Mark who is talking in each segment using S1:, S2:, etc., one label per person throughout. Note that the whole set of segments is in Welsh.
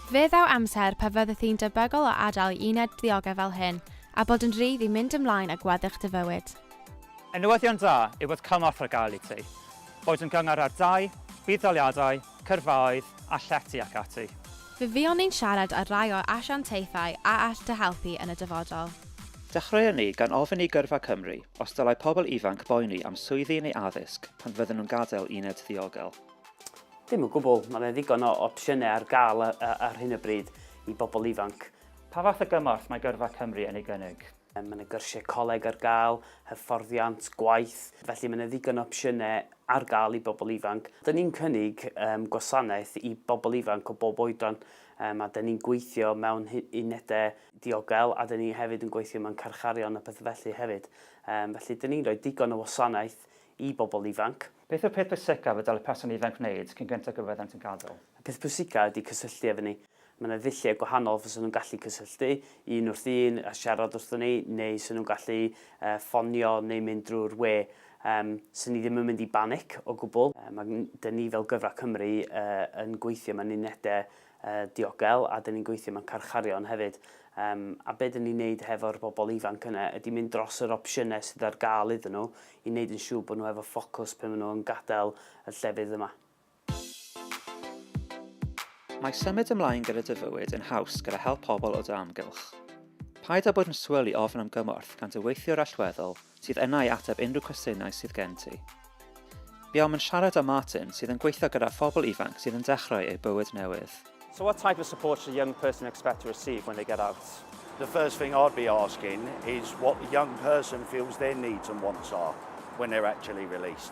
S1: Fe ddaw amser pa fyddwch chi'n debygol o adael i uned ddiogel fel hyn a bod yn rhydd i mynd ymlaen â gweddill dy fywyd. Y newyddion
S2: da yw bod cymorth ar gael i ti, boed yn gyngor ar dai, budd-daliadau, cyrfaoedd a llety ac ati. Fe fuon ni'n
S1: siarad ar rai o asiantaethau a all dy helpu yn y dyfodol. Dechreuon ni
S3: gan ofyn i Gyrfa Cymru os dylai pobl ifanc boeni am swyddi neu addysg pan fydden nhw'n gadael uned ddiogel. Dim o
S4: gwbl, mae 'na ddigon o opsiynau ar gael ar hyn o bryd i bobl ifanc. Pa fath o gymorth
S2: mae Gyrfa Cymru yn ei gynnig? Mae yna gyrsiau
S4: coleg ar gael, hyfforddiant, gwaith, felly mae yna ddigon o opsiynau ar gael i bobl ifanc. Dyn ni'n cynnig um, gwasanaeth i bobl ifanc o bob oedran um, a dyn ni'n gweithio mewn unedau diogel a dyn ni hefyd yn gweithio mewn carcharion a pethau felly hefyd. Um, felly dyn ni'n rhoi digon o wasanaeth i bobl ifanc. Beth yw'r peth pwysicaf
S2: y dylai person ifanc wneud cyn gyntaf gyfer iddynt yn gadael? Y peth pwysicaf ydy
S4: cysylltu efo ni. Mae yna ddulliau gwahanol fysen nhw'n gallu cysylltu, un wrth un, a siarad wrthon ni, neu 'sen nhw'n gallu ffonio neu mynd drwy'r we. Yym, 'sen ni ddim yn mynd i banic o gwbl. Mae 'da ni fel Gyfraith Cymru yn gweithio mewn unedau diogel a dan ni'n gweithio mewn carcharion hefyd um, a beth dan ni'n neud hefo'r bobl ifanc yna ydy mynd dros yr opsiynau sydd ar gael iddyn nhw i wneud yn siŵr bod nhw efo ffocws pan maen nhw'n gadael y llefydd yma.
S3: Mae symud ymlaen gyda dy fywyd yn haws gyda help pobl o dy amgylch. Paid â bod yn swil i ofn am gymorth gan dy weithiwr allweddol sydd yna i ateb unrhyw cwestiynau sydd gen ti. Buom yn siarad â Martin, sydd yn gweithio gyda phobl ifanc sydd yn dechrau eu bywyd newydd. So what type of
S2: support should a young person expect to receive when they get out? The first thing
S5: I'd be asking is what the young person feels their needs and wants are when they're actually released.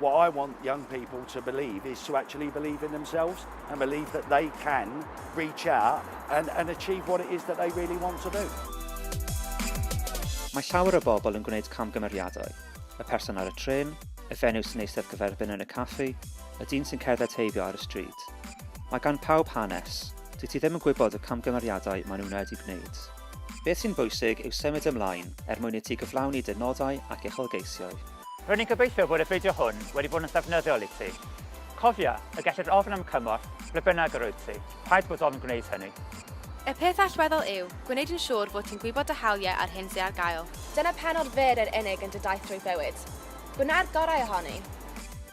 S5: What I want young people to believe is to actually believe in themselves and believe that they can reach out and, and achieve what it is that they really want to do.
S3: Mae llawer o bobl yn gwneud camgymeriadau. Y person ar y tren, y fenyw sy'n eistedd cyferbyn yn y caffi, y dyn sy'n cerdded heibio ar y stryd. Mae gan pawb hanes. Dwi ti ddim yn gwybod y camgymeriadau maen nhw'n wedi gwneud. Beth sy'n bwysig yw symud ymlaen er mwyn i ti gyflawni dy nodau ac uchelgeisiau. R'yn i'n gobeithio
S2: bod y fideo hwn wedi bod yn ddefnyddiol i ti. Cofia, y gellir ofn am cymorth ble bynnag yr wyt ti, rhaid bod ofn gwneud hynny. Y peth
S1: allweddol yw, gwneud yn siŵr fod ti'n gwybod dy hawliau a'r hyn sydd ar gael. Dyna pennod fer yr unig yn dy daith drwy bywyd. Gwna'r gorau ohoni!